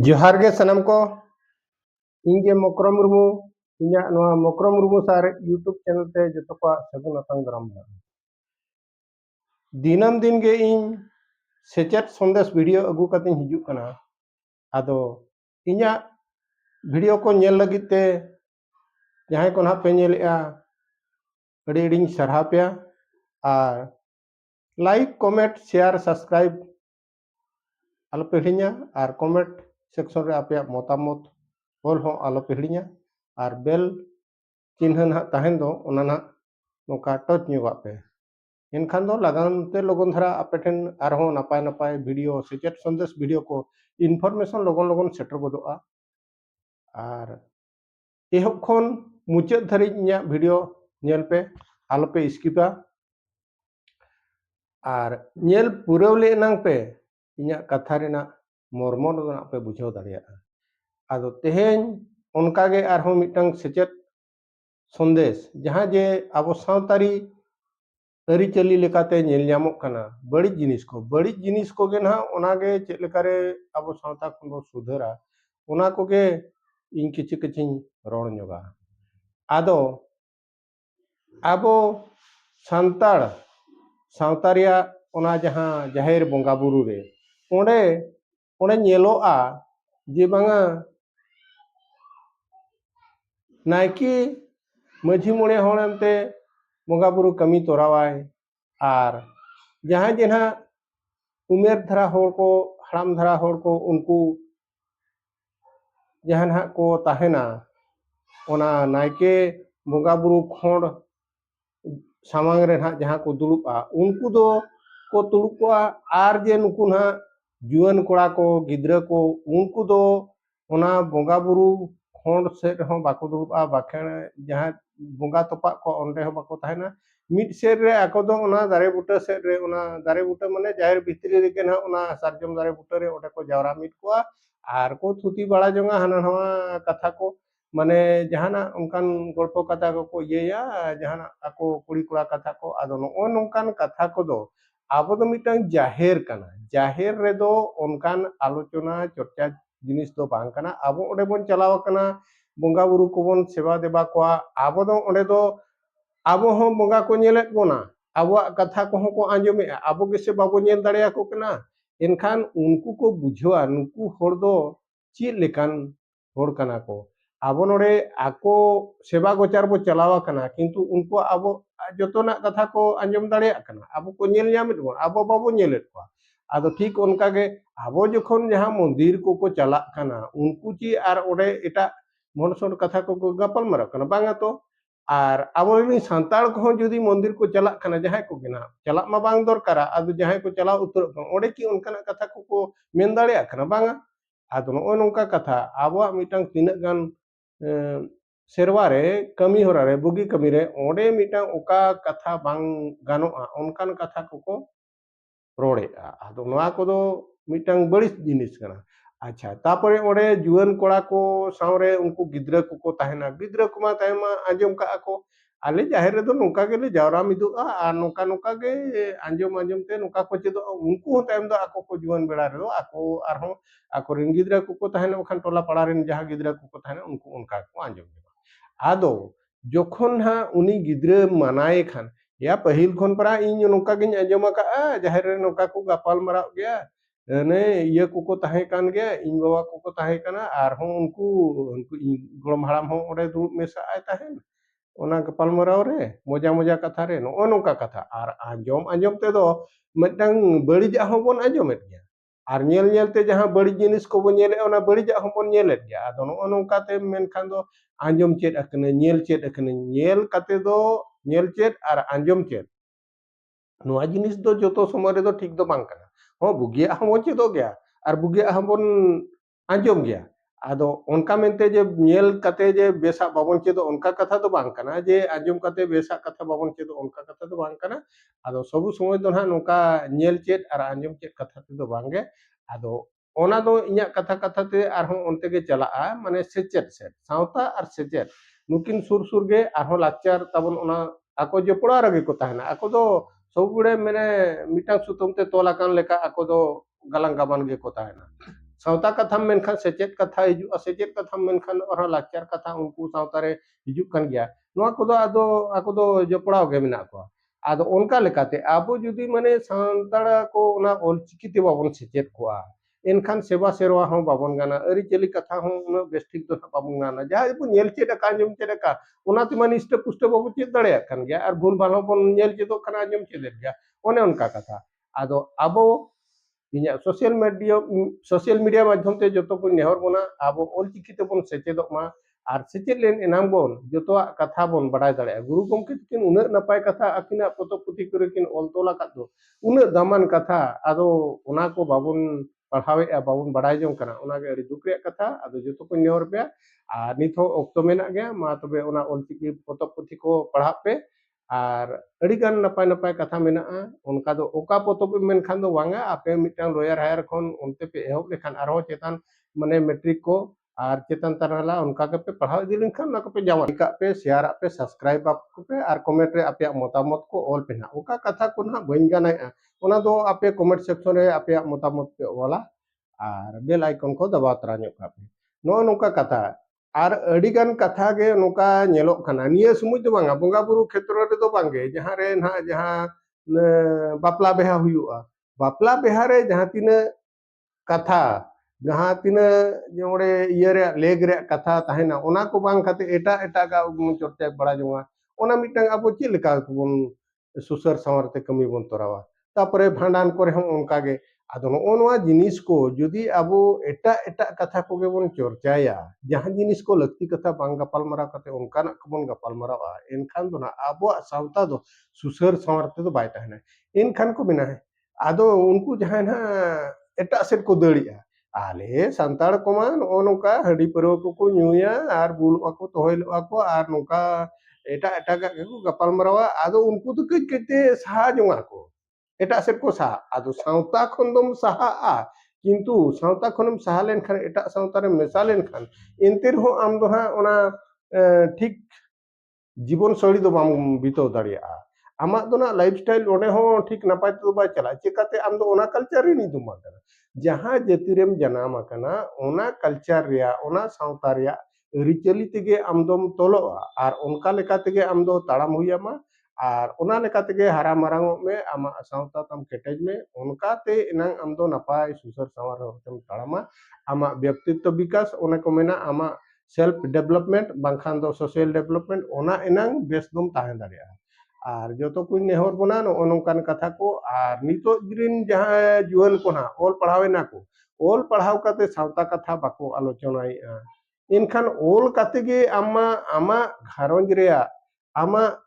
ᱡᱚᱦᱟᱨ ᱜᱮ ᱥᱟᱱᱟᱢ ᱠᱚ ᱤᱧ ᱜᱮ ᱢᱚᱠᱨᱚᱢ ᱢᱩᱨᱢᱩ ᱤᱧᱟᱹᱜ ᱱᱚᱣᱟ ᱢᱚᱠᱨᱚᱢ ᱢᱩᱨᱢᱩ ᱥᱟᱨ ᱤᱭᱩᱴᱩᱵᱽ ᱪᱮᱱᱮᱞ ᱛᱮ ᱡᱚᱛᱚ ᱠᱚᱣᱟᱜ ᱥᱟᱹᱜᱩᱱ ᱟᱛᱟᱝ ᱫᱟᱨᱟᱢ ᱢᱮᱱᱟᱜᱼᱟ ᱫᱤᱱᱟᱹᱢ ᱫᱤᱱ ᱜᱮ ᱤᱧ ᱥᱮᱪᱮᱫ ᱥᱚᱱᱫᱮᱥ ᱵᱷᱤᱰᱤᱭᱳ ᱟᱹᱜᱩ ᱠᱟᱛᱮᱧ ᱦᱤᱡᱩᱜ ᱠᱟᱱᱟ ᱟᱫᱚ ᱤᱧᱟᱹᱜ ᱵᱷᱤᱰᱤᱭᱳ ᱠᱚ ᱧᱮᱞ ᱞᱟᱹᱜᱤᱫ ᱛᱮ ᱡᱟᱦᱟᱸᱭ ᱠᱚ ᱱᱟᱦᱟᱜ ᱯᱮ ᱧᱮᱞᱮᱜᱼᱟ ᱟᱹᱰᱤ ᱟᱹᱰᱤᱧ ᱥᱟᱨᱦᱟᱣ ᱯᱮᱭᱟ ᱟᱨ ᱞᱟᱭᱤᱠ ᱠᱚᱢᱮᱱᱴ ᱥᱮᱭᱟᱨ ᱥᱟᱵᱥᱠᱨᱟᱭᱤᱵ ᱟᱞᱚᱯᱮ ᱦᱤᱲᱤᱧᱟ ᱟᱨ ᱠᱚᱢᱮᱱᱴ ᱥᱮᱠᱥᱚᱱ ᱨᱮ ᱟᱯᱮᱭᱟᱜ ᱢᱚᱛᱟᱢᱚᱛ ᱚᱞ ᱦᱚᱸ ᱟᱞᱚᱯᱮ ᱦᱤᱲᱤᱧᱟ ᱟᱨ ᱵᱮᱞ ᱪᱤᱱᱦᱟᱹ ᱱᱟᱦᱟᱜ ᱛᱟᱦᱮᱱ ᱫᱚ ᱚᱱᱟ ᱱᱟᱦᱟᱜ ᱱᱚᱝᱠᱟ ᱴᱚᱪ ᱧᱚᱜᱟᱜ ᱯᱮ ᱮᱱᱠᱷᱟᱱ ᱫᱚ ᱞᱟᱜᱟᱱ ᱛᱮ ᱞᱚᱜᱚᱱ ᱫᱷᱟᱨᱟ ᱟᱯᱮ ᱴᱷᱮᱱ ᱟᱨᱦᱚᱸ ᱱᱟᱯᱟᱭ ᱱᱟᱯᱟᱭ ᱵᱷᱤᱰᱤᱭᱳ ᱥᱮᱪᱮᱫ ᱥᱚᱱᱫᱮᱥ ᱵᱷᱤᱰᱤᱭᱳ ᱠᱚ ᱤᱱᱯᱷᱚᱨᱢᱮᱥᱚᱱ ᱞᱚᱜᱚᱱ ᱞᱚᱜᱚᱱ ᱥᱮᱴᱮᱨ ᱜᱚᱫᱚᱜᱼᱟ ᱟᱨ ᱮᱦᱚᱵ ᱠᱷᱚᱱ ᱢᱩᱪᱟᱹᱫ ᱫᱷᱟᱹᱨᱤᱡ ᱤᱧᱟᱹᱜ ᱵᱷᱤᱰᱤᱭᱳ ᱧᱮᱞ ᱯᱮ ᱟᱞᱚᱯᱮ ᱥᱠᱤᱯᱟ ᱟᱨ ᱧᱮᱞ ᱯᱩᱨᱟᱹᱣ ᱞᱮ ᱮᱱᱟᱝ ᱯᱮ ᱤᱧᱟᱹᱜ ᱠᱟᱛᱷᱟ ᱨᱮᱱᱟᱜ ᱢᱚᱨᱢᱚ ᱨᱮᱱᱟᱜ ᱯᱮ ᱵᱩᱡᱷᱟᱹᱣ ᱫᱟᱲᱮᱭᱟᱜᱼᱟ ᱟᱫᱚ ᱛᱮᱦᱮᱧ ᱚᱱᱠᱟᱜᱮ ᱟᱨᱦᱚᱸ ᱢᱤᱫᱴᱟᱝ ᱥᱮᱪᱮᱫ ᱥᱚᱱᱫᱮᱥ ᱡᱟᱦᱟᱸ ᱡᱮ ᱟᱵᱚ ᱥᱟᱶᱛᱟᱨᱤ ᱟᱹᱨᱤᱪᱟᱹᱞᱤ ᱞᱮᱠᱟᱛᱮ ᱧᱮᱞ ᱧᱟᱢᱚᱜ ᱠᱟᱱᱟ ᱵᱟᱹᱲᱤᱡ ᱡᱤᱱᱤᱥ ᱠᱚ ᱵᱟᱹᱲᱤᱡ ᱡᱤᱱᱤᱥ ᱠᱚᱜᱮ ᱱᱟᱦᱟᱜ ᱚᱱᱟᱜᱮ ᱪᱮᱫ ᱞᱮᱠᱟᱨᱮ ᱟᱵᱚ ᱥᱟᱶᱛᱟ ᱠᱷᱚᱱ ᱵᱚᱱ ᱥᱩᱫᱷᱟᱹᱨᱟ ᱚᱱᱟ ᱠᱚᱜᱮ ᱤᱧ ᱠᱤᱪᱷᱩ ᱠᱤᱪᱷᱩᱧ ᱨᱚᱲ ᱧᱚᱜᱟ ᱟᱫᱚ ᱟᱵᱚ ᱥᱟᱱᱛᱟᱲ ᱥᱟᱶᱛᱟ ᱨᱮᱭᱟᱜ ᱚᱱᱟ ᱡᱟᱦᱟᱸ ᱡᱟᱦᱮᱨ ᱵᱚᱸᱜᱟ ᱵᱩᱨᱩ ᱨᱮ ᱚᱸᱰᱮ ᱚᱸᱰᱮ ᱧᱮᱞᱚᱜᱼᱟ ᱡᱮ ᱵᱟᱝᱟ ᱱᱟᱭᱠᱮ ᱢᱟᱺᱡᱷᱤ ᱢᱚᱬᱮ ᱦᱚᱲ ᱮᱱᱛᱮ ᱵᱚᱸᱜᱟ ᱵᱩᱨᱩ ᱠᱟᱹᱢᱤ ᱛᱚᱨᱟᱣᱟᱭ ᱟᱨ ᱡᱟᱦᱟᱸᱭ ᱡᱮ ᱱᱟᱦᱟᱜ ᱩᱢᱮᱨ ᱫᱷᱟᱨᱟ ᱦᱚᱲ ᱠᱚ ᱦᱟᱲᱟᱢ ᱫᱷᱟᱨᱟ ᱦᱚᱲ ᱠᱚ ᱩᱱᱠᱩ ᱡᱟᱦᱟᱸ ᱱᱟᱦᱟᱜ ᱠᱚ ᱛᱟᱦᱮᱱᱟ ᱚᱱᱟ ᱱᱟᱭᱠᱮ ᱵᱚᱸᱜᱟ ᱵᱩᱨᱩ ᱠᱷᱚᱸᱰ ᱥᱟᱢᱟᱝ ᱨᱮ ᱱᱟᱦᱟᱜ ᱡᱟᱦᱟᱸ ᱠᱚ ᱫᱩᱲᱩᱵᱼᱟ ᱩᱱᱠᱩ ᱫᱚ ᱠᱚ ᱫᱩᱲᱩᱵ ᱠᱚᱜᱼᱟ ᱟᱨ ᱡᱮ ᱱᱩᱠᱩ ᱱᱟᱦᱟᱜ ᱡᱩᱣᱟᱹᱱ ᱠᱚᱲᱟ ᱠᱚ ᱜᱤᱫᱽᱨᱟᱹ ᱠᱚ ᱩᱱᱠᱩ ᱫᱚ ᱚᱱᱟ ᱵᱚᱸᱜᱟ ᱵᱩᱨᱩ ᱠᱷᱚᱸᱰ ᱥᱮᱫ ᱨᱮᱦᱚᱸ ᱵᱟᱠᱚ ᱫᱩᱲᱩᱵᱼᱟ ᱵᱟᱠᱷᱮᱬ ᱡᱟᱦᱟᱸ ᱵᱚᱸᱜᱟ ᱛᱚᱯᱟᱜ ᱠᱚ ᱚᱸᱰᱮ ᱦᱚᱸ ᱵᱟᱠᱚ ᱛᱟᱦᱮᱱᱟ ᱢᱤᱫ ᱥᱮᱫ ᱨᱮ ᱟᱠᱚ ᱫᱚ ᱚᱱᱟ ᱫᱟᱨᱮ ᱵᱩᱴᱟᱹ ᱥᱮᱫ ᱨᱮ ᱚᱱᱟ ᱫᱟᱨᱮ ᱵᱩᱴᱟᱹ ᱢᱟᱱᱮ ᱡᱟᱦᱮᱨ ᱵᱷᱤᱛᱨᱤ ᱨᱮᱜᱮ ᱱᱟᱦᱟᱜ ᱚᱱᱟ ᱥᱟᱨᱡᱚᱢ ᱫᱟᱨᱮ ᱵᱩᱴᱟᱹ ᱨᱮ ᱚᱸᱰᱮ ᱠᱚ ᱡᱟᱣᱨᱟ ᱢᱤᱫ ᱠᱚᱜᱼᱟ ᱟᱨ ᱠᱚ ᱛᱷᱩᱛᱤ ᱵᱟᱲᱟ ᱡᱚᱝᱟ ᱦᱟᱱᱟ ᱱᱟᱣᱟ ᱠᱟᱛᱷᱟ ᱠᱚ ᱢᱟᱱᱮ ᱡᱟᱦᱟᱱᱟᱜ ᱚᱱᱠᱟᱱ ᱜᱚᱞᱯᱚ ᱠᱟᱛᱷᱟ ᱠᱚᱠᱚ ᱤᱭᱟᱹᱭᱟ ᱡᱟᱦᱟᱱᱟᱜ ᱟᱠᱚ ᱠᱩᱲᱤ ᱠᱚᱲᱟ ᱠᱟᱛᱷᱟ ᱠᱚ ᱟᱫᱚ ᱱᱚᱜᱼᱚ ᱱᱚᱝᱠᱟᱱ ᱠᱟᱛᱷᱟ ᱠᱚᱫᱚ ᱟᱵᱚ ᱫᱚ ᱢᱤᱫᱴᱟᱝ ᱡᱟᱦᱮᱨ ᱠᱟᱱᱟ ᱡᱟᱦᱮᱨ ᱨᱮᱫᱚ ᱚᱱᱠᱟᱱ ᱟᱞᱳᱪᱚᱱᱟ ᱪᱚᱨᱪᱟ ᱡᱤᱱᱤᱥ ᱫᱚ ᱵᱟᱝ ᱠᱟᱱᱟ ᱟᱵᱚ ᱚᱸᱰᱮ ᱵᱚᱱ ᱪᱟᱞᱟᱣ ᱟᱠᱟᱱᱟ ᱵᱚᱸᱜᱟ ᱵᱩᱨᱩ ᱠᱚᱵᱚᱱ ᱥᱮᱵᱟ ᱫᱮᱵᱟ ᱠᱚᱣᱟ ᱟᱵᱚ ᱫᱚ ᱚᱸᱰᱮ ᱫᱚ ᱟᱵᱚ ᱦᱚᱸ ᱵᱚᱸᱜᱟ ᱠᱚ ᱧᱮᱞᱮᱫ ᱵᱚᱱᱟ ᱟᱵᱚᱣᱟᱜ ᱠᱟᱛᱷᱟ ᱠᱚᱦᱚᱸ ᱠᱚ ᱟᱸᱡᱚᱢᱮᱜᱼᱟ ᱟᱵᱚ ᱜᱮᱥᱮ ᱵᱟᱵᱚ ᱧᱮᱞ ᱫᱟᱲᱮᱭᱟᱠᱚ ᱠᱟᱱᱟ ᱮᱱᱠᱷᱟᱱ ᱩᱱᱠᱩ ᱠᱚ ᱵᱩᱡᱷᱟᱹᱣᱟ ᱱᱩᱠᱩ ᱦᱚᱲ ᱫᱚ ᱪᱮᱫ ᱞᱮᱠᱟᱱ ᱦᱚᱲ ᱠᱟᱱᱟ ᱠᱚ ᱟᱵᱚ ᱱᱚᱰᱮ ᱟᱠᱚ ᱥᱮᱵᱟ ᱜᱚᱪᱟᱨ ᱵᱚ ᱪᱟᱞᱟᱣ ᱟᱠᱟᱱᱟ ᱠᱤᱱᱛᱩ ᱩᱱᱠᱩ ᱟᱵᱚ ᱡᱚᱛᱚᱱᱟᱜ ᱠᱟᱛᱷᱟ ᱠᱚ ᱟᱸᱡᱚᱢ ᱫᱟᱲᱮᱭᱟᱜ ᱠᱟᱱᱟ ᱟᱵᱚ ᱠᱚ ᱧᱮᱞ ᱧᱟᱢᱮᱫ ᱵᱚᱱᱟ ᱟᱵᱚ ᱵᱟᱵᱚ ᱧᱮᱞᱮᱫ ᱠᱚᱣᱟ ᱟᱫᱚ ᱴᱷᱤᱠ ᱚᱱᱠᱟᱜᱮ ᱟᱵᱚ ᱡᱚᱠᱷᱚᱱ ᱡᱟᱦᱟᱸ ᱢᱚᱱᱫᱤᱨ ᱠᱚᱠᱚ ᱪᱟᱞᱟᱜ ᱠᱟᱱᱟ ᱩᱱᱠᱩ ᱪᱮᱫ ᱟᱨ ᱚᱸᱰᱮ ᱮᱴᱟᱜ ᱢᱚᱱᱥᱚᱱ ᱠᱟᱛᱷᱟ ᱠᱚᱠᱚ ᱜᱟᱯᱟᱞᱢᱟᱨᱟᱜ ᱠᱟᱱᱟ ᱵᱟᱝᱟ ᱛᱚ ᱟᱨ ᱟᱵᱚ ᱨᱮᱱ ᱥᱟᱱᱛᱟᱲ ᱠᱚᱦᱚᱸ ᱡᱩᱫᱤ ᱢᱚᱱᱫᱤᱨ ᱠᱚ ᱪᱟᱞᱟᱜ ᱠᱟᱱᱟ ᱡᱟᱦᱟᱸᱭ ᱠᱚ ᱵᱮᱱᱟᱣ ᱪᱟᱞᱟᱜ ᱢᱟ ᱵᱟᱝ ᱫᱚᱨᱠᱟᱨᱟ ᱟᱫᱚ ᱡᱟᱦᱟᱸᱭ ᱠᱚ ᱪᱟᱞᱟᱣ ᱩᱛᱟᱹᱨᱚᱜ ᱠᱟᱱᱟ ᱚᱸᱰᱮ ᱠᱤ ᱚᱱᱠᱟᱱᱟᱜ ᱠᱟᱛᱷᱟ ᱠᱚᱠᱚ ᱢᱮᱱ ᱫᱟᱲᱮᱭᱟᱜ ᱠᱟᱱᱟ ᱵᱟᱝᱟ ᱟᱫᱚ ᱱᱚᱜᱼᱚ ᱱᱚᱝᱠᱟ ᱠᱟᱛᱷᱟ ᱟᱵᱚᱣᱟᱜ ᱢᱤᱫᱴᱟᱝ ᱛᱤᱱᱟᱹᱜ ᱜᱟᱱ ᱥᱮᱨᱣᱟ ᱨᱮ ᱠᱟᱹᱢᱤ ᱦᱚᱨᱟ ᱨᱮ ᱵᱩᱜᱤ ᱠᱟᱹᱢᱤ ᱨᱮ ᱚᱸᱰᱮ ᱢᱤᱫᱴᱟᱝ ᱚᱠᱟ ᱠᱟᱛᱷᱟ ᱵᱟᱝ ᱜᱟᱱᱚᱜᱼᱟ ᱚᱱᱠᱟᱱ ᱠᱟᱛᱷᱟ ᱠᱚᱠᱚ ᱨᱚᱲᱮᱫᱼᱟ ᱟᱫᱚ ᱱᱚᱣᱟ ᱠᱚᱫᱚ ᱢᱤᱫᱴᱟᱝ ᱵᱟᱹᱲᱤᱡ ᱡᱤᱱᱤᱥ ᱠᱟᱱᱟ ᱟᱪᱪᱷᱟ ᱛᱟᱯᱚᱨᱮ ᱚᱸᱰᱮ ᱡᱩᱣᱟᱹᱱ ᱠᱚᱲᱟ ᱠᱚ ᱥᱟᱶᱨᱮ ᱩᱱᱠᱩ ᱜᱤᱫᱽᱨᱟᱹ ᱠᱚᱠᱚ ᱛᱟᱦᱮᱱᱟ ᱜᱤᱫᱽᱨᱟᱹ ᱠᱚᱢᱟ ᱛᱟᱦᱮᱱ ᱢᱟ ᱟᱸᱡᱚᱢ ᱠᱟᱜᱼᱟ ᱠᱚ ᱟᱞᱮ ᱡᱟᱦᱮᱨ ᱨᱮᱫᱚ ᱱᱚᱝᱠᱟ ᱜᱮᱞᱮ ᱡᱟᱣᱨᱟ ᱢᱤᱫᱚᱜᱼᱟ ᱟᱨ ᱱᱚᱝᱠᱟ ᱱᱚᱝᱠᱟ ᱜᱮ ᱟᱸᱡᱚᱢ ᱟᱸᱡᱚᱢ ᱛᱮ ᱱᱚᱝᱠᱟ ᱠᱚ ᱪᱮᱫᱚᱜᱼᱟ ᱩᱱᱠᱩ ᱦᱚᱸ ᱛᱟᱭᱚᱢ ᱫᱚ ᱟᱠᱚ ᱠᱚ ᱡᱩᱣᱟᱹᱱ ᱵᱮᱲᱟ ᱨᱮᱫᱚ ᱟᱠᱚ ᱟᱨᱦᱚᱸ ᱟᱠᱚᱨᱮᱱ ᱜᱤᱫᱽᱨᱟᱹ ᱠᱚᱠᱚ ᱛᱟᱦᱮᱱᱟ ᱵᱟᱠᱷᱟᱱ ᱴᱚᱞᱟ ᱯᱟᱲᱟ ᱨᱮᱱ ᱡᱟᱦᱟᱸ ᱜᱤᱫᱽᱨᱟᱹ ᱠᱚᱠᱚ ᱛᱟᱦᱮᱱᱟ ᱩᱱᱠᱩ ᱚᱱᱠᱟ ᱜᱮᱠᱚ ᱟᱸᱡᱚᱢ ᱡᱚᱝᱟ ᱟᱫᱚ ᱡᱚᱠᱷᱚᱱ ᱦᱟᱸᱜ ᱩᱱᱤ ᱜᱤᱫᱽᱨᱟᱹ ᱢᱟᱱᱟᱭᱮ ᱠᱷᱟᱱ ᱭᱟ ᱯᱟᱹᱦᱤᱞ ᱠᱷᱚᱱ ᱯᱟᱨᱟ ᱤᱧ ᱱᱚᱝᱠᱟ ᱜᱤᱧ ᱟᱸᱡᱚᱢ ᱟᱠᱟᱫᱼᱟ ᱡᱟᱦᱮᱨ ᱨᱮ ᱱᱚᱝᱠᱟ ᱠᱚ ᱜᱟᱯᱟᱞ ᱢᱟᱨᱟᱣ ᱜᱮᱭᱟ ᱚᱱᱮ ᱤᱭᱟᱹ ᱠᱚᱠᱚ ᱛᱟᱦᱮᱸ ᱠᱟᱱ ᱜᱮᱭᱟ ᱤᱧ ᱵᱟᱵᱟ ᱠᱚᱠᱚ ᱛᱟᱦᱮᱸ ᱠᱟᱱᱟ ᱟᱨᱦᱚᱸ ᱩᱱᱠᱩ ᱩᱱᱠᱩ ᱤᱧ ᱜᱚᱲᱚᱢ ᱦᱟᱲᱟᱢ ᱦᱚᱸ ᱚᱸᱰᱮ ᱫᱩᱲᱩᱵ ᱢᱮᱥᱟᱜ ᱟᱭ ᱛᱟᱦᱮᱱ ᱚᱱᱟ ᱜᱟᱯᱟᱞ ᱢᱟᱨᱟᱣ ᱨᱮ ᱢᱚᱡᱟ ᱢᱚᱡᱟ ᱠᱟᱛᱷᱟ ᱨᱮ ᱱᱚᱜᱼᱚ ᱱᱚᱝᱠᱟ ᱠᱟᱛᱷᱟ ᱟᱨ ᱟᱸᱡᱚᱢ ᱟᱸᱡᱚᱢ ᱛᱮᱫᱚ ᱢᱤᱫᱴᱟᱝ ᱵᱟᱹᱲᱤᱡᱟᱜ ᱦᱚᱸᱵᱚᱱ ᱟᱸᱡᱚᱢᱮᱫ ᱜᱮᱭᱟ ᱟᱨ ᱧᱮᱞ ᱧᱮᱞᱛᱮ ᱡᱟᱦᱟᱸ ᱵᱟᱹᱲᱤᱡ ᱡᱤᱱᱤᱥ ᱠᱚᱵᱚᱱ ᱧᱮᱞᱮᱫᱼᱟ ᱚᱱᱟ ᱵᱟᱹᱲᱤᱡᱟᱜ ᱦᱚᱸᱵᱚᱱ ᱧᱮᱞᱮᱫ ᱜᱮᱭᱟ ᱟᱫᱚ ᱱᱚᱜᱼᱚ ᱱᱚᱝᱠᱟᱛᱮ ᱢᱮᱱᱠᱷᱟᱱ ᱫᱚ ᱟᱸᱡᱚᱢ ᱪᱮᱫ ᱟᱠᱟᱱᱟᱹᱧ ᱧᱮᱞ ᱪᱮᱫ ᱟᱠᱟᱱᱟᱹᱧ ᱧᱮᱞ ᱠᱟᱛᱮ ᱫᱚ ᱧᱮᱞ ᱪᱮᱫ ᱟᱨ ᱟᱸᱡᱚᱢ ᱪᱮᱫ ᱱᱚᱣᱟ ᱡᱤᱱᱤᱥ ᱫᱚ ᱡᱚᱛᱚ ᱥᱚᱢᱚᱭ ᱨᱮᱫᱚ ᱴᱷᱤᱠ ᱫᱚ ᱵᱟᱝ ᱠᱟᱱᱟ ᱦᱚᱸ ᱵᱩᱜᱤᱭᱟᱜ ᱦᱚᱸᱵᱚᱱ ᱪᱮᱫᱚᱜ ᱜᱮᱭᱟ ᱟᱨ ᱵᱩᱜᱤᱭᱟᱜ ᱦᱚᱸᱵᱚᱱ ᱟᱸᱡᱚᱢ ᱜᱮᱭᱟ ᱟᱫᱚ ᱚᱱᱠᱟ ᱢᱮᱱᱛᱮ ᱡᱮ ᱧᱮᱞ ᱠᱟᱛᱮ ᱡᱮ ᱵᱮᱥᱟᱜ ᱵᱟᱵᱚᱱ ᱪᱮᱫᱚᱜ ᱚᱱᱠᱟ ᱠᱟᱛᱷᱟ ᱫᱚ ᱵᱟᱝ ᱠᱟᱱᱟ ᱡᱮ ᱟᱸᱡᱚᱢ ᱠᱟᱛᱮ ᱵᱮᱥᱟᱜ ᱠᱟᱛᱷᱟ ᱵᱟᱵᱚᱱ ᱪᱮᱫᱚᱜ ᱚᱱᱠᱟ ᱠᱟᱛᱷᱟ ᱫᱚ ᱵᱟᱝ ᱠᱟᱱᱟ ᱟᱫᱚ ᱥᱚᱵ ᱥᱚᱢᱚᱭ ᱫᱚ ᱱᱟᱦᱟᱜ ᱱᱚᱝᱠᱟ ᱧᱮᱞ ᱪᱮᱫ ᱟᱨ ᱟᱸᱡᱚᱢ ᱪᱮᱫ ᱠᱟᱛᱷᱟ ᱛᱮᱫᱚ ᱵᱟᱝ ᱜᱮ ᱟᱫᱚ ᱚᱱᱟ ᱫᱚ ᱤᱧᱟᱹᱜ ᱠᱟᱛᱷᱟ ᱠᱟᱛᱷᱟ ᱛᱮ ᱟᱨᱦᱚᱸ ᱚᱱᱛᱮ ᱜᱮ ᱪᱟᱞᱟᱜᱼᱟ ᱢᱟᱱᱮ ᱥᱮᱪᱮᱫ ᱥᱮᱫ ᱥᱟᱶᱛᱟ ᱟᱨ ᱥᱮᱪᱮᱫ ᱱᱩᱠᱤᱱ ᱥᱩᱨ ᱥᱩᱨ ᱜᱮ ᱟᱨᱦᱚᱸ ᱞᱟᱠᱪᱟᱨ ᱛᱟᱵᱚᱱ ᱚᱱᱟ ᱟᱠᱚ ᱡᱚᱯᱲᱟᱣ ᱨᱮᱜᱮ ᱠᱚ ᱛᱟᱦᱮᱱᱟ ᱟᱠᱚ ᱫᱚ ᱥᱚᱵ ᱵᱮᱲᱮ ᱢᱟᱱᱮ ᱢᱤᱫᱴᱟᱝ ᱥᱩᱛᱟᱹᱢ ᱛᱮ ᱛᱚᱞ ᱟᱠᱟᱱ ᱞᱮᱠᱟ ᱟᱠᱚ ᱫᱚ ᱜᱟᱞᱟᱝ ᱜᱟᱵᱟᱱ ᱜᱮᱠᱚ ᱛᱟᱦᱮᱱᱟ ᱥᱟᱶᱛᱟ ᱠᱟᱛᱷᱟᱢ ᱢᱮᱱᱠᱷᱟᱱ ᱥᱮᱪᱮᱫ ᱠᱟᱛᱷᱟ ᱦᱤᱡᱩᱜᱼᱟ ᱥᱮᱪᱮᱫ ᱠᱟᱛᱷᱟᱢ ᱢᱮᱱᱠᱷᱟᱱ ᱟᱨᱦᱚᱸ ᱞᱟᱠᱪᱟᱨ ᱠᱟᱛᱷᱟ ᱩᱱᱠᱩ ᱥᱟᱶᱛᱟ ᱨᱮ ᱦᱤᱡᱩᱜ ᱠᱟᱱ ᱜᱮᱭᱟ ᱱᱚᱣᱟ ᱠᱚᱫᱚ ᱟᱫᱚ ᱟᱠᱚ ᱫᱚ ᱡᱚᱯᱲᱟᱣ ᱜᱮ ᱢᱮᱱᱟᱜ ᱠᱚᱣᱟ ᱟᱫᱚ ᱚᱱᱠᱟ ᱞᱮᱠᱟᱛᱮ ᱟᱵᱚ ᱡᱩᱫᱤ ᱢᱟᱱᱮ ᱥᱟᱱᱛᱟᱲ ᱠᱚ ᱚᱱᱟ ᱚᱞᱪᱤᱠᱤ ᱛᱮ ᱵᱟᱵᱚᱱ ᱥᱮᱪᱮᱫ ᱠᱚᱣᱟ ᱮᱱᱠᱷᱟᱱ ᱥᱮᱵᱟ ᱥᱮᱨᱣᱟ ᱦᱚᱸ ᱵᱟᱵᱚᱱ ᱜᱟᱱᱟ ᱟᱹᱨᱤᱪᱟᱹᱞᱤ ᱠᱟᱛᱷᱟ ᱦᱚᱸ ᱩᱱᱟᱹᱜ ᱵᱮᱥ ᱴᱷᱤᱠ ᱫᱚ ᱵᱟᱵᱚᱱ ᱜᱟᱱᱟ ᱡᱟᱦᱟᱸ ᱜᱮᱵᱚᱱ ᱧᱮᱞ ᱪᱮᱫ ᱟᱠᱟᱫ ᱟᱸᱡᱚᱢ ᱪᱮᱫ ᱟᱠᱟᱫ ᱚᱱᱟ ᱛᱮᱢᱟ ᱱᱤᱥᱴᱟᱹ ᱯᱩᱥᱴᱟᱹ ᱵᱟᱵᱚ ᱪᱮᱫ ᱫᱟᱲᱮᱭᱟᱜ ᱠᱟᱱ ᱜᱮᱭᱟ ᱟᱨ ᱵᱷᱩᱞ ᱵᱷᱟᱞ ᱦᱚᱸᱵᱚᱱ ᱧᱮᱞ ᱪᱮᱫᱚᱜ ᱠᱟᱱᱟ ᱟᱸᱡᱚᱢ ᱪᱮᱫᱮᱫ ᱜᱮᱭᱟ ᱚᱱᱮ ᱚᱱᱠᱟ ᱠᱟᱛᱷᱟ ᱟᱫᱚ ᱟᱵᱚ ᱤᱧᱟᱹᱜ ᱥᱳᱥᱟᱞ ᱢᱤᱰᱤᱭᱟ ᱥᱳᱥᱟᱞ ᱢᱤᱰᱤᱭᱟ ᱢᱟᱫᱽᱫᱷᱚᱢ ᱛᱮ ᱡᱚᱛᱚ ᱠᱚ ᱱᱮᱦᱚᱨ ᱵᱚᱱᱟ ᱟᱵᱚ ᱚᱞᱪᱤᱠᱤ ᱛᱮᱵᱚᱱ ᱥᱮᱪᱮᱫᱚᱜ ᱢᱟ ᱟᱨ ᱥᱮᱪᱮᱫ ᱞᱮᱱ ᱮᱱᱟᱝ ᱵᱚᱱ ᱡᱚᱛᱚᱣᱟᱜ ᱠᱟᱛᱷᱟ ᱵᱚᱱ ᱵᱟᱰᱟᱭ ᱫᱟᱲᱮᱭᱟᱜᱼᱟ ᱜᱩᱨᱩ ᱜᱚᱢᱠᱮ ᱛᱟᱹᱠᱤᱱ ᱩᱱᱟᱹᱜ ᱱᱟᱯᱟᱭ ᱠᱟᱛᱷᱟ ᱟᱹᱠᱤᱱᱟᱜ ᱯᱚᱛᱚᱵ ᱯᱩᱛᱷᱤ ᱠᱚᱨᱮ ᱠᱤᱱ ᱚᱞ ᱛᱚᱞ ᱟᱠᱟᱫ ᱫᱚ ᱩᱱᱟᱹᱜ ᱫᱟᱢᱟᱱ ᱠᱟᱛᱷᱟ ᱟᱫᱚ ᱚᱱᱟ ᱠᱚ ᱵᱟᱵᱚᱱ ᱯᱟᱲᱦᱟᱣᱮᱫᱼᱟ ᱵᱟᱵᱚᱱ ᱵᱟᱰᱟᱭ ᱡᱚᱝ ᱠᱟᱱᱟ ᱚᱱᱟᱜᱮ ᱟᱹᱰᱤ ᱫᱩᱠ ᱨᱮᱭᱟᱜ ᱠᱟᱛᱷᱟ ᱟᱫᱚ ᱡᱚᱛᱚ ᱠᱚ ᱱᱮᱦᱚᱨ ᱯᱮᱭᱟ ᱟᱨ ᱱᱤᱛ ᱦᱚᱸ ᱚᱠᱛᱚ ᱢᱮᱱᱟᱜ ᱜᱮᱭᱟ ᱢᱟ ᱛᱚᱵᱮ ᱚᱱᱟ ᱚᱞᱪᱤᱠᱤ ᱯᱚᱛᱚᱵ ᱯᱩᱛᱷᱤ ᱠᱚ ᱯᱟᱲᱦᱟᱜ ᱯᱮ ᱟᱨ ᱟᱹᱰᱤ ᱜᱟᱱ ᱱᱟᱯᱟᱭ ᱱᱟᱯᱟᱭ ᱠᱟᱛᱷᱟ ᱢᱮᱱᱟᱜᱼᱟ ᱚᱱᱠᱟ ᱫᱚ ᱚᱠᱟ ᱯᱚᱛᱚᱵ ᱮᱢ ᱢᱮᱱᱠᱷᱟᱱ ᱫᱚ ᱵᱟᱝᱟ ᱟᱯᱮ ᱢᱤᱫᱴᱟᱝ ᱞᱚᱭᱟᱨ ᱦᱟᱭᱟᱨ ᱠᱷᱚᱱ ᱚᱱᱛᱮ ᱯᱮ ᱮᱦᱚᱵ ᱞᱮᱠᱷᱟᱱ ᱟᱨᱦᱚᱸ ᱪᱮᱛᱟᱱ ᱢᱟᱱᱮ ᱢᱮᱴᱨᱤᱠ ᱠᱚ ᱟᱨ ᱪᱮᱛᱟᱱ ᱛᱟᱨᱟᱞᱟ ᱚᱱᱠᱟ ᱜᱮᱯᱮ ᱯᱟᱲᱦᱟᱣ ᱤᱫᱤ ᱞᱮᱱᱠᱷᱟᱱ ᱚᱱᱟ ᱠᱚᱯᱮ ᱧᱟᱢᱟ ᱠᱟᱜ ᱯᱮ ᱥᱮᱭᱟᱨ ᱟᱜ ᱯᱮ ᱥᱟᱵᱥᱠᱨᱟᱭᱤᱵ ᱟᱜ ᱯᱮ ᱟᱨ ᱠᱚᱢᱮᱱᱴ ᱨᱮ ᱟᱯᱮᱭᱟᱜ ᱢᱚᱛᱟᱢᱚᱛ ᱠᱚ ᱚᱞ ᱯᱮ ᱱᱟᱜ ᱚᱠᱟ ᱠᱟᱛᱷᱟ ᱠᱚ ᱱᱟᱜ ᱵᱟᱹᱧ ᱜᱟᱱᱮᱜᱼᱟ ᱚᱱᱟ ᱫᱚ ᱟᱯᱮ ᱠᱚᱢᱮᱱᱴ ᱥᱮᱠᱥᱚᱱ ᱨᱮ ᱟᱯᱮᱭᱟᱜ ᱢᱚᱛᱟᱢᱚᱛ ᱯᱮ ᱚᱞᱟ ᱟᱨ ᱵᱮᱞ ᱟᱭᱠᱚᱱ ᱠᱚ ᱫᱟᱵᱟᱣ ᱛᱚᱨᱟ ᱧᱚᱜ ᱠᱟᱜ ᱯᱮ ᱱᱚᱜᱼᱚ ᱱᱚᱝᱠᱟ ᱠᱟᱛᱷᱟ ᱟᱨ ᱟᱹᱰᱤ ᱜᱟᱱ ᱠᱟᱛᱷᱟ ᱜᱮ ᱱᱚᱝᱠᱟ ᱧᱮᱞᱚᱜ ᱠᱟᱱᱟ ᱱᱤᱭᱟᱹ ᱥᱩᱢᱩᱡ ᱫᱚ ᱵᱟᱝᱟ ᱵᱚᱸᱜᱟ ᱵᱩᱨᱩ ᱠᱷᱮᱛᱨᱚ ᱨᱮᱫᱚ ᱵᱟᱝᱜᱮ ᱡᱟᱦᱟᱸ ᱨᱮ ᱱᱟᱦᱟᱜ ᱡᱟᱦᱟᱸ ᱵᱟᱯᱞᱟ ᱵᱮᱦᱟ ᱦᱩᱭᱩᱜᱼᱟ ᱵᱟᱯᱞᱟ ᱵᱮᱦᱟ ᱨᱮ ᱡᱟᱦᱟᱸ ᱛᱤᱱᱟᱹᱜ ᱠᱟᱛᱷᱟ ᱡᱟᱦᱟᱸ ᱛᱤᱱᱟᱹᱜ ᱱᱚᱰᱮ ᱤᱭᱟᱹ ᱨᱮᱭᱟᱜ ᱞᱮᱜᱽ ᱨᱮᱭᱟᱜ ᱠᱟᱛᱷᱟ ᱛᱟᱦᱮᱱᱟ ᱚᱱᱟ ᱠᱚ ᱵᱟᱝ ᱠᱟᱛᱮ ᱮᱴᱟᱜ ᱮᱴᱟᱜᱟᱜ ᱪᱚᱨᱪᱟ ᱵᱟᱲᱟ ᱡᱚᱝᱟ ᱚᱱᱟ ᱢᱤᱫᱴᱟᱝ ᱟᱵᱚ ᱪᱮᱫ ᱞᱮᱠᱟ ᱵᱚᱱ ᱥᱩᱥᱟᱹᱨ ᱥᱟᱶᱟᱨ ᱛᱮ ᱠᱟᱹᱢᱤ ᱵᱚᱱ ᱛᱚᱨᱟᱣᱟ ᱛᱟᱯᱚᱨᱮ ᱵᱷᱟᱸᱰᱟᱱ ᱠᱚᱨᱮ ᱦᱚᱸ ᱚᱱᱠᱟ ᱜᱮ ᱟᱫᱚ ᱱᱚᱜᱼᱚ ᱱᱚᱣᱟ ᱡᱤᱱᱤᱥ ᱠᱚ ᱡᱩᱫᱤ ᱟᱵᱚ ᱮᱴᱟᱜ ᱮᱴᱟᱜ ᱠᱟᱛᱷᱟ ᱠᱚᱜᱮ ᱵᱚᱱ ᱪᱚᱨᱪᱟᱭᱟ ᱡᱟᱦᱟᱸ ᱡᱤᱱᱤᱥ ᱠᱚ ᱞᱟᱹᱠᱛᱤ ᱠᱟᱛᱷᱟ ᱵᱟᱝ ᱜᱟᱯᱟᱞᱢᱟᱨᱟᱣ ᱠᱟᱛᱮ ᱚᱱᱠᱟᱱᱟᱜ ᱠᱚᱵᱚᱱ ᱜᱟᱯᱟᱞᱢᱟᱨᱟᱣᱟ ᱮᱱᱠᱷᱟᱱ ᱫᱚ ᱱᱟᱦᱟᱜ ᱟᱵᱚᱣᱟᱜ ᱥᱟᱶᱛᱟ ᱫᱚ ᱥᱩᱥᱟᱹᱨ ᱥᱟᱶᱟᱨ ᱛᱮᱫᱚ ᱵᱟᱭ ᱛᱟᱦᱮᱱᱟ ᱮᱱᱠᱷᱟᱱ ᱠᱚ ᱢᱮᱱᱟ ᱟᱫᱚ ᱩᱱᱠᱩ ᱡᱟᱦᱟᱸᱭ ᱱᱟᱦᱟᱜ ᱮᱴᱟᱜ ᱥᱮᱫ ᱠᱚ ᱫᱟᱹᱲᱮᱜᱼᱟ ᱟᱞᱮ ᱥᱟᱱᱛᱟᱲ ᱠᱚᱢᱟ ᱱᱚᱜᱼᱚ ᱱᱚᱝᱠᱟ ᱦᱟᱺᱰᱤ ᱯᱟᱹᱨᱣᱟᱹ ᱠᱚᱠᱚ ᱧᱩᱭᱟ ᱟᱨ ᱵᱩᱞᱩᱜ ᱟᱠᱚ ᱛᱚᱦᱚᱭᱞᱚᱜᱼᱟ ᱠᱚ ᱟᱨ ᱱᱚᱝᱠᱟ ᱮᱴᱟᱜ ᱮᱴᱟᱜᱟᱜ ᱜᱮᱠᱚ ᱜᱟᱯᱟᱞ ᱢᱟᱨᱟᱣᱟ ᱟᱫᱚ ᱩᱱᱠᱩ ᱫᱚ ᱠᱟᱹᱡ ᱠᱟᱹᱡ ᱛᱮ ᱥᱟᱦᱟ ᱡᱚᱝ ᱟᱠᱚ ᱮᱴᱟᱜ ᱥᱮᱫ ᱠᱚ ᱥᱟᱦᱟᱜᱼᱟ ᱟᱫᱚ ᱥᱟᱶᱛᱟ ᱠᱷᱚᱱ ᱫᱚᱢ ᱥᱟᱦᱟᱜᱼᱟ ᱠᱤᱱᱛᱩ ᱥᱟᱶᱛᱟ ᱠᱷᱚᱱᱮᱢ ᱥᱟᱦᱟ ᱞᱮᱱᱠᱷᱟᱱ ᱮᱴᱟᱜ ᱥᱟᱶᱛᱟ ᱨᱮᱢ ᱢᱮᱥᱟ ᱞᱮᱱᱠᱷᱟᱱ ᱮᱱᱛᱮ ᱨᱮᱦᱚᱸ ᱟᱢ ᱫᱚ ᱦᱟᱸᱜ ᱚᱱᱟ ᱴᱷᱤᱠ ᱡᱤᱵᱚᱱ ᱥᱟᱹᱲᱤ ᱫᱚ ᱵᱟᱢ ᱵᱤᱛᱟᱹᱣ ᱫᱟᱲᱮᱭᱟᱜᱼᱟ ᱟᱢᱟᱜ ᱫᱚ ᱱᱟᱜ ᱞᱟᱭᱤᱯᱷ ᱥᱴᱟᱭᱤᱞ ᱚᱸᱰᱮ ᱦᱚᱸ ᱴᱷᱤᱠ ᱱᱟᱯᱟᱭ ᱛᱮᱫᱚ ᱵᱟᱭ ᱪᱟᱞᱟᱜᱼᱟ ᱪᱮᱠᱟᱛᱮ ᱟᱢ ᱫᱚ ᱚᱱᱟ ᱠᱟᱞᱪᱟᱨ ᱨᱤᱱᱤᱡ ᱫᱚ ᱵᱟᱝ ᱠᱟᱱᱟ ᱡᱟᱦᱟᱸ ᱡᱟᱹᱛᱤ ᱨᱮᱢ ᱡᱟᱱᱟᱢ ᱟᱠᱟᱱᱟ ᱚᱱᱟ ᱠᱟᱞᱪᱟᱨ ᱨᱮᱭᱟᱜ ᱚᱱᱟ ᱥᱟᱶᱛᱟ ᱨᱮᱭᱟᱜ ᱟᱹᱨᱤᱪᱟᱹᱞᱤ ᱛᱮᱜᱮ ᱟᱢ ᱫᱚᱢ ᱛᱚᱞᱚᱜᱼᱟ ᱟᱨ ᱚᱱᱠᱟ ᱞᱮᱠᱟ ᱛᱮᱜᱮ ᱟᱢ ᱫᱚ ᱛᱟᱲᱟᱢ ᱦᱩᱭ ᱟᱢᱟ ᱟᱨ ᱚᱱᱟ ᱞᱮᱠᱟ ᱛᱮᱜᱮ ᱦᱟᱨᱟ ᱢᱟᱨᱟᱝᱚᱜ ᱢᱮ ᱟᱢᱟᱜ ᱥᱟᱶᱛᱟ ᱛᱟᱢ ᱠᱮᱴᱮᱡ ᱢᱮ ᱚᱱᱠᱟᱛᱮ ᱮᱱᱟᱝ ᱟᱢ ᱫᱚ ᱱᱟᱯᱟᱭ ᱥᱩᱥᱟᱹᱨ ᱥᱟᱶᱟᱨ ᱦᱚᱨ ᱛᱮᱢ ᱛᱟᱲᱟᱢᱟ ᱟᱢᱟᱜ ᱵᱮᱠᱛᱤᱛᱛᱚ ᱵᱤᱠᱟᱥ ᱚᱱᱮ ᱠᱚ ᱢᱮᱱᱟ ᱟᱢᱟᱜ ᱥᱮᱞᱯᱷ ᱰᱮᱵᱷᱞᱚᱯᱢᱮᱱᱴ ᱵᱟᱝᱠᱷᱟᱱ ᱫᱚ ᱥᱳᱥᱟᱞ ᱰᱮᱵᱷᱞᱚᱯᱢᱮᱱᱴ ᱚᱱᱟ ᱮᱱᱟᱝ ᱵᱮᱥ ᱫᱚᱢ ᱛᱟᱦᱮᱸ ᱫᱟᱲᱮᱭᱟᱜᱼᱟ ᱟᱨ ᱡᱚᱛᱚ ᱠᱚᱧ ᱱᱮᱦᱚᱨ ᱵᱚᱱᱟ ᱱᱚᱜᱼᱚ ᱱᱚᱝᱠᱟᱱ ᱠᱟᱛᱷᱟ ᱠᱚ ᱟᱨ ᱱᱤᱛᱚᱜ ᱨᱤᱱ ᱡᱟᱦᱟᱸ ᱡᱩᱣᱟᱹᱱ ᱠᱚ ᱱᱟᱦᱟᱜ ᱚᱞ ᱯᱟᱲᱦᱟᱣ ᱮᱱᱟ ᱠᱚ ᱚᱞ ᱯᱟᱲᱦᱟᱣ ᱠᱟᱛᱮ ᱥᱟᱶᱛᱟ ᱠᱟᱛᱷᱟ ᱵᱟᱠᱚ ᱟᱞᱳᱪᱚᱱᱟᱭᱮᱜᱼᱟ ᱮᱱᱠᱷᱟᱱ ᱚᱞ ᱠᱟᱛᱮ ᱜᱮ ᱟᱢ ᱢᱟ ᱟᱢᱟᱜ ᱜᱷᱟᱨᱚᱸᱡᱽ ᱨᱮᱭᱟᱜ ᱟᱢᱟᱜ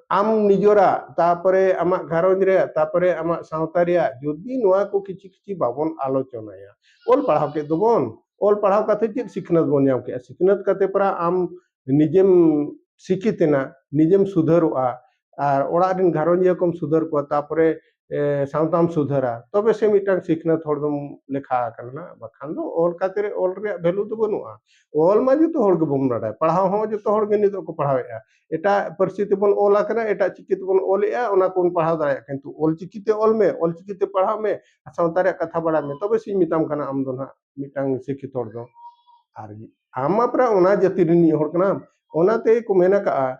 ᱟᱢ ᱱᱤᱡᱚᱨᱟᱜ ᱛᱟᱯᱚᱨᱮ ᱟᱢᱟᱜ ᱜᱷᱟᱨᱚᱸᱡᱽ ᱨᱮᱭᱟᱜ ᱛᱟᱯᱚᱨᱮ ᱟᱢᱟᱜ ᱥᱟᱶᱛᱟ ᱨᱮᱭᱟᱜ ᱡᱩᱫᱤ ᱱᱚᱣᱟ ᱠᱚ ᱠᱤᱪᱷᱤ ᱠᱤᱪᱷᱤ ᱵᱟᱵᱚᱱ ᱟᱞᱳᱪᱚᱱᱟᱭᱟ ᱚᱞ ᱯᱟᱲᱦᱟᱣ ᱠᱮᱫ ᱫᱚᱵᱚᱱ ᱚᱞ ᱯᱟᱲᱦᱟᱣ ᱠᱟᱛᱮ ᱪᱮᱫ ᱥᱤᱠᱷᱱᱟᱹᱛ ᱵᱚᱱ ᱧᱟᱢ ᱠᱮᱫᱼᱟ ᱥᱤᱠᱷᱱᱟᱹᱛ ᱠᱟᱛᱮ ᱯᱚᱨᱟ ᱟᱢ ᱱᱤᱡᱮᱢ ᱥᱤᱠᱷᱤᱛᱮᱱᱟ ᱱᱤᱡᱮᱢ ᱥᱩᱫᱷᱟᱹᱨᱚᱜᱼᱟ ᱟᱨ ᱚᱲᱟᱜ ᱨᱮᱱ ᱜᱷᱟᱨᱚᱸᱡᱤᱭᱟᱹ ᱠᱚᱢ ᱥᱩᱫᱷᱟᱹᱨ ᱠᱚᱣᱟ ᱛᱟᱯᱚᱨᱮ ᱥᱟᱶᱛᱟᱢ ᱥᱩᱫᱷᱟᱹᱨᱟ ᱛᱚᱵᱮ ᱥᱮ ᱢᱤᱫᱴᱟᱝ ᱥᱤᱠᱷᱱᱟᱹᱛ ᱦᱚᱲ ᱫᱚᱢ ᱞᱮᱠᱷᱟ ᱟᱠᱟᱱᱟ ᱵᱟᱠᱷᱟᱱ ᱫᱚ ᱚᱞ ᱠᱟᱛᱮ ᱚᱞ ᱨᱮᱭᱟᱜ ᱵᱷᱮᱞᱩ ᱫᱚ ᱵᱟᱹᱱᱩᱜᱼᱟ ᱚᱞ ᱢᱟ ᱡᱚᱛᱚ ᱦᱚᱲ ᱜᱮᱵᱚᱱ ᱵᱟᱰᱟᱭᱟ ᱯᱟᱲᱦᱟᱣ ᱦᱚᱸ ᱡᱚᱛᱚ ᱦᱚᱲ ᱜᱮ ᱱᱤᱛᱚᱜ ᱠᱚ ᱯᱟᱲᱦᱟᱣᱮᱫᱼᱟ ᱮᱴᱟᱜ ᱯᱟᱹᱨᱥᱤ ᱛᱮᱵᱚᱱ ᱚᱞ ᱟᱠᱟᱱᱟ ᱮᱴᱟᱜ ᱪᱤᱠᱤ ᱛᱮᱵᱚᱱ ᱚᱞᱮᱫᱼᱟ ᱚᱱᱟ ᱠᱚᱵᱚᱱ ᱯᱟᱲᱦᱟᱣ ᱫᱟᱲᱮᱭᱟᱜ ᱠᱟᱱᱟ ᱠᱤᱱᱛᱩ ᱚᱞ ᱪᱤᱠᱤ ᱛᱮ ᱚᱞ ᱢᱮ ᱚᱞ ᱪᱤᱠᱤ ᱛᱮ ᱯᱟᱲᱦᱟᱜ ᱢᱮ ᱥᱟᱶᱛᱟ ᱨᱮᱭᱟᱜ ᱠᱟᱛᱷᱟ ᱵᱟᱲᱟᱭ ᱢᱮ ᱛᱚᱵᱮ ᱥᱮᱧ ᱢᱮᱛᱟᱢ ᱠᱟᱱᱟ ᱟᱢ ᱫᱚ ᱱᱟᱦᱟᱜ ᱢᱤᱫᱴᱟᱝ ᱥᱤᱠᱷᱤᱛ ᱦᱚᱲ ᱫᱚ ᱟᱨ ᱟᱢ ᱢᱟ ᱯᱨᱟᱭ ᱚᱱᱟ ᱡᱟᱹᱛᱤ ᱨᱤᱱᱤᱡ ᱦᱚᱲ ᱠᱟᱱᱟᱢ ᱚᱱᱟᱛᱮ ᱠᱚ ᱢᱮᱱ ᱟᱠᱟᱜᱼᱟ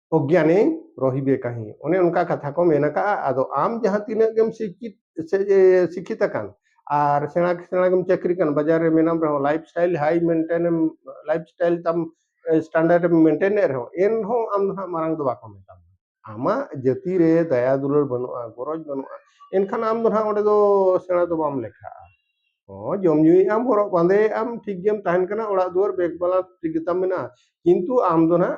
ᱚᱜᱽᱭᱟᱱᱮ ᱨᱚᱦᱤᱵᱮ ᱠᱟᱹᱦᱤ ᱚᱱᱮ ᱚᱱᱠᱟ ᱠᱟᱛᱷᱟ ᱠᱚ ᱢᱮᱱ ᱟᱠᱟᱜᱼᱟ ᱟᱫᱚ ᱟᱢ ᱡᱟᱦᱟᱸ ᱛᱤᱱᱟᱹᱜ ᱜᱮᱢ ᱥᱤᱠᱷᱤᱛ ᱥᱤᱠᱷᱤᱛ ᱟᱠᱟᱱ ᱟᱨ ᱥᱮᱬᱟ ᱥᱮᱬᱟ ᱜᱮᱢ ᱪᱟᱹᱠᱨᱤ ᱠᱟᱱ ᱵᱟᱡᱟᱨ ᱨᱮ ᱢᱮᱱᱟᱢ ᱨᱮᱦᱚᱸ ᱞᱟᱭᱤᱯᱷ ᱥᱴᱟᱭᱤᱞ ᱦᱟᱭ ᱢᱮᱱᱴᱮᱱ ᱮᱢ ᱞᱟᱭᱤᱯᱷ ᱥᱴᱟᱭᱤᱞ ᱛᱟᱢ ᱥᱴᱟᱱᱰᱟᱨᱰ ᱮᱢ ᱢᱮᱱᱴᱮᱱ ᱮᱫ ᱨᱮᱦᱚᱸ ᱮᱱᱦᱚᱸ ᱟᱢ ᱫᱚ ᱦᱟᱸᱜ ᱢᱟᱨᱟᱝ ᱫᱚ ᱵᱟᱠᱚ ᱢᱮᱛᱟᱢᱟ ᱟᱢᱟᱜ ᱡᱟᱹᱛᱤ ᱨᱮ ᱫᱟᱭᱟ ᱫᱩᱞᱟᱹᱲ ᱵᱟᱹᱱᱩᱜᱼᱟ ᱜᱚᱨᱚᱡᱽ ᱵᱟᱹᱱᱩᱜᱼᱟ ᱮᱱᱠᱷᱟᱱ ᱟᱢ ᱫᱚ ᱦᱟᱸᱜ ᱚᱸᱰᱮ ᱫᱚ ᱥᱮᱬᱟ ᱫᱚ ᱵᱟᱢ ᱞᱮᱠᱷᱟᱜᱼᱟ ᱦᱚᱸ ᱡᱚᱢ ᱧᱩᱭᱮᱫ ᱟᱢ ᱦᱚᱨᱚᱜ ᱵᱟᱸᱫᱮᱭᱮᱫ ᱟᱢ ᱴᱷᱤᱠ ᱜᱮᱢ ᱛᱟᱦᱮᱱ ᱠᱟᱱᱟ ᱚᱲᱟᱜ ᱫᱩᱣᱟᱹᱨ ᱵᱮᱜᱽ ᱵᱟᱞᱟ ᱴᱷᱤᱠ ᱜᱮᱛᱟᱢ ᱢᱮᱱᱟᱜᱼᱟ ᱠᱤᱱᱛᱩ ᱟᱢ ᱫᱚ ᱦᱟᱸᱜ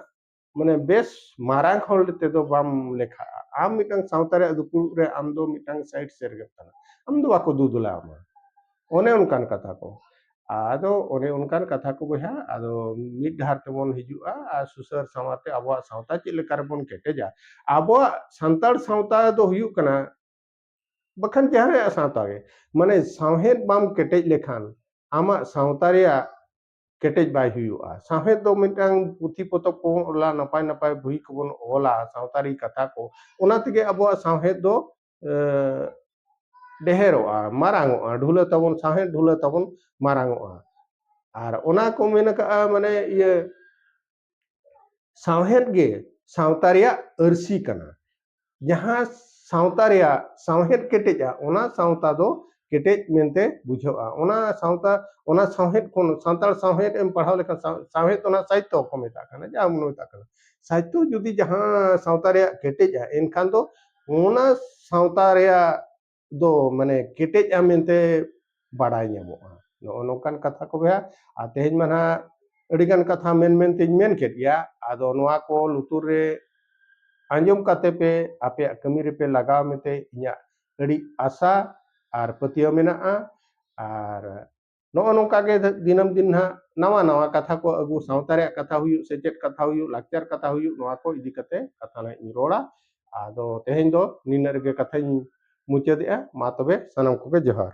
ᱢᱟᱱᱮ ᱵᱮᱥ ᱢᱟᱨᱟᱝ ᱦᱚᱲ ᱛᱮᱫᱚ ᱵᱟᱢ ᱞᱮᱠᱷᱟᱜᱼᱟ ᱟᱢ ᱢᱤᱫᱴᱟᱝ ᱥᱟᱶᱛᱟ ᱨᱮᱭᱟᱜ ᱫᱩᱯᱩᱲᱩᱵ ᱨᱮ ᱟᱢ ᱫᱚ ᱢᱤᱫᱴᱟᱝ ᱥᱟᱭᱤᱰ ᱥᱮᱨ ᱜᱮᱢ ᱠᱟᱱᱟ ᱟᱢ ᱫᱚ ᱵᱟᱠᱚ ᱫᱩᱫᱩᱞᱟ ᱟᱢᱟ ᱚᱱᱮ ᱚᱱᱠᱟᱱ ᱠᱟᱛᱷᱟ ᱠᱚ ᱟᱫᱚ ᱚᱱᱮ ᱚᱱᱠᱟᱱ ᱠᱟᱛᱷᱟ ᱠᱚ ᱵᱚᱭᱦᱟ ᱟᱫᱚ ᱢᱤᱫ ᱰᱟᱦᱟᱨ ᱛᱮᱵᱚᱱ ᱦᱤᱡᱩᱜᱼᱟ ᱟᱨ ᱥᱩᱥᱟᱹᱨ ᱥᱟᱶᱟᱨ ᱛᱮ ᱟᱵᱚᱣᱟᱜ ᱥᱟᱶᱛᱟ ᱪᱮᱫ ᱞᱮᱠᱟ ᱨᱮᱵᱚᱱ ᱠᱮᱴᱮᱡᱟ ᱟᱵᱚᱣᱟᱜ ᱥᱟᱱᱛᱟᱲ ᱥᱟᱶᱛᱟ ᱫᱚ ᱦᱩᱭᱩᱜ ᱠᱟᱱᱟ ᱵᱟᱠᱷᱟᱱ ᱡᱟᱦᱟᱸᱭᱟᱜ ᱥᱟᱶᱛᱟ ᱜᱮ ᱢᱟᱱᱮ ᱥᱟᱶᱦᱮᱫ ᱵᱟᱢ ᱠᱮᱴᱮᱡ ᱞᱮᱠᱷᱟᱱ ᱟᱢᱟᱜ ᱥᱟᱶᱛᱟ ᱨᱮᱭᱟᱜ ᱠᱮᱴᱮᱡ ᱵᱟᱭ ᱦᱩᱭᱩᱜᱼᱟ ᱥᱟᱶᱦᱮᱫ ᱫᱚ ᱢᱤᱫᱴᱟᱝ ᱯᱩᱛᱷᱤ ᱯᱚᱛᱚᱵ ᱠᱚᱵᱚᱱ ᱚᱞᱟ ᱱᱟᱯᱟᱭ ᱱᱟᱯᱟᱭ ᱵᱳᱭ ᱠᱚᱵᱚᱱ ᱚᱞᱟ ᱥᱟᱶᱛᱟᱨᱤ ᱠᱟᱛᱷᱟ ᱠᱚ ᱚᱱᱟ ᱛᱮᱜᱮ ᱟᱵᱚᱣᱟᱜ ᱥᱟᱶᱦᱮᱫ ᱫᱚ ᱰᱮᱦᱮᱨᱚᱜᱼᱟ ᱢᱟᱨᱟᱝᱚᱜᱼᱟ ᱰᱷᱩᱞᱟᱹ ᱛᱟᱵᱚᱱ ᱥᱟᱶᱦᱮᱫ ᱰᱷᱩᱞᱟᱹ ᱛᱟᱵᱚᱱ ᱢᱟᱨᱟᱝᱚᱜᱼᱟ ᱟᱨ ᱚᱱᱟ ᱠᱚ ᱢᱮᱱ ᱟᱠᱟᱜᱼᱟ ᱢᱟᱱᱮ ᱤᱭᱟᱹ ᱥᱟᱶᱦᱮᱫ ᱜᱮ ᱥᱟᱶᱛᱟ ᱨᱮᱭᱟᱜ ᱟᱹᱨᱥᱤ ᱠᱟᱱᱟ ᱡᱟᱦᱟᱸ ᱥᱟᱶᱛᱟ ᱨᱮᱭᱟᱜ ᱥᱟᱶᱦᱮᱫ ᱠᱮᱴᱮᱡᱟ ᱚᱱᱟ ᱥᱟᱶᱛᱟ ᱫᱚ ᱠᱮᱴᱮᱡ ᱢᱮᱱᱛᱮ ᱵᱩᱡᱷᱟᱹᱜᱼᱟ ᱚᱱᱟ ᱥᱟᱶᱛᱟ ᱚᱱᱟ ᱥᱟᱶᱦᱮᱫ ᱠᱷᱚᱱ ᱥᱟᱱᱛᱟᱲ ᱥᱟᱶᱦᱮᱫ ᱮᱢ ᱯᱟᱲᱦᱟᱣ ᱞᱮᱠᱷᱟᱱ ᱥᱟᱶᱦᱮᱫ ᱚᱱᱟ ᱥᱟᱦᱤᱛᱛᱚ ᱠᱚ ᱢᱮᱛᱟᱜ ᱠᱟᱱᱟ ᱡᱟᱦᱟᱸ ᱵᱚᱱ ᱢᱮᱛᱟᱜ ᱠᱟᱱᱟ ᱥᱟᱦᱤᱛᱛᱚ ᱡᱩᱫᱤ ᱡᱟᱦᱟᱸ ᱥᱟᱶᱛᱟ ᱨᱮᱭᱟᱜ ᱠᱮᱴᱮᱡᱟ ᱮᱱᱠᱷᱟᱱ ᱫᱚ ᱚᱱᱟ ᱥᱟᱶᱛᱟ ᱨᱮᱭᱟᱜ ᱫᱚ ᱢᱟᱱᱮ ᱠᱮᱴᱮᱡᱼᱟ ᱢᱮᱱᱛᱮ ᱵᱟᱰᱟᱭ ᱧᱟᱢᱚᱜᱼᱟ ᱱᱚᱜᱼᱚ ᱱᱚᱝᱠᱟᱱ ᱠᱟᱛᱷᱟ ᱠᱚ ᱵᱚᱭᱦᱟ ᱟᱨ ᱛᱮᱦᱮᱧ ᱢᱟ ᱱᱟᱦᱟᱜ ᱟᱹᱰᱤᱜᱟᱱ ᱠᱟᱛᱷᱟ ᱢᱮᱱ ᱢᱮᱱᱛᱮᱧ ᱢᱮᱱ ᱠᱮᱫ ᱜᱮᱭᱟ ᱟᱫᱚ ᱱᱚᱣᱟ ᱠᱚ ᱞᱩᱛᱩᱨ ᱨᱮ ᱟᱸᱡᱚᱢ ᱠᱟᱛᱮ ᱯᱮ ᱟᱯᱮᱭᱟᱜ ᱠᱟᱹᱢᱤ ᱨᱮᱯᱮ ᱞᱟᱜᱟᱣ ᱢᱮᱱᱛᱮ ᱤᱧᱟᱹᱜ ᱟᱹᱰᱤ ᱟᱥᱟ ᱟᱨ ᱯᱟᱹᱛᱭᱟᱹᱣ ᱢᱮᱱᱟᱜᱼᱟ ᱟᱨ ᱱᱚᱜᱼᱚ ᱱᱚᱝᱠᱟ ᱜᱮ ᱫᱤᱱᱟᱹᱢ ᱫᱤᱱ ᱱᱟᱦᱟᱜ ᱱᱟᱣᱟ ᱱᱟᱣᱟ ᱠᱟᱛᱷᱟ ᱠᱚ ᱟᱹᱜᱩ ᱥᱟᱶᱛᱟ ᱨᱮᱭᱟᱜ ᱠᱟᱛᱷᱟ ᱦᱩᱭᱩᱜ ᱥᱮᱪᱮᱫ ᱠᱟᱛᱷᱟ ᱦᱩᱭᱩᱜ ᱞᱟᱠᱪᱟᱨ ᱠᱟᱛᱷᱟ ᱦᱩᱭᱩᱜ ᱱᱚᱣᱟ ᱠᱚ ᱤᱫᱤ ᱠᱟᱛᱮ ᱠᱟᱛᱷᱟ ᱱᱟᱦᱟᱜ ᱤᱧ ᱨᱚᱲᱟ ᱟᱫᱚ ᱛᱮᱦᱮᱧ ᱫᱚ ᱱᱤᱱᱟᱹᱜ ᱨᱮᱜᱮ ᱠᱟᱛᱷᱟᱧ ᱢᱩᱪᱟᱹᱫᱮᱜᱼᱟ ᱢᱟ ᱛᱚᱵᱮ ᱥᱟᱱᱟᱢ ᱠᱚᱜᱮ ᱡᱚᱦᱟᱨ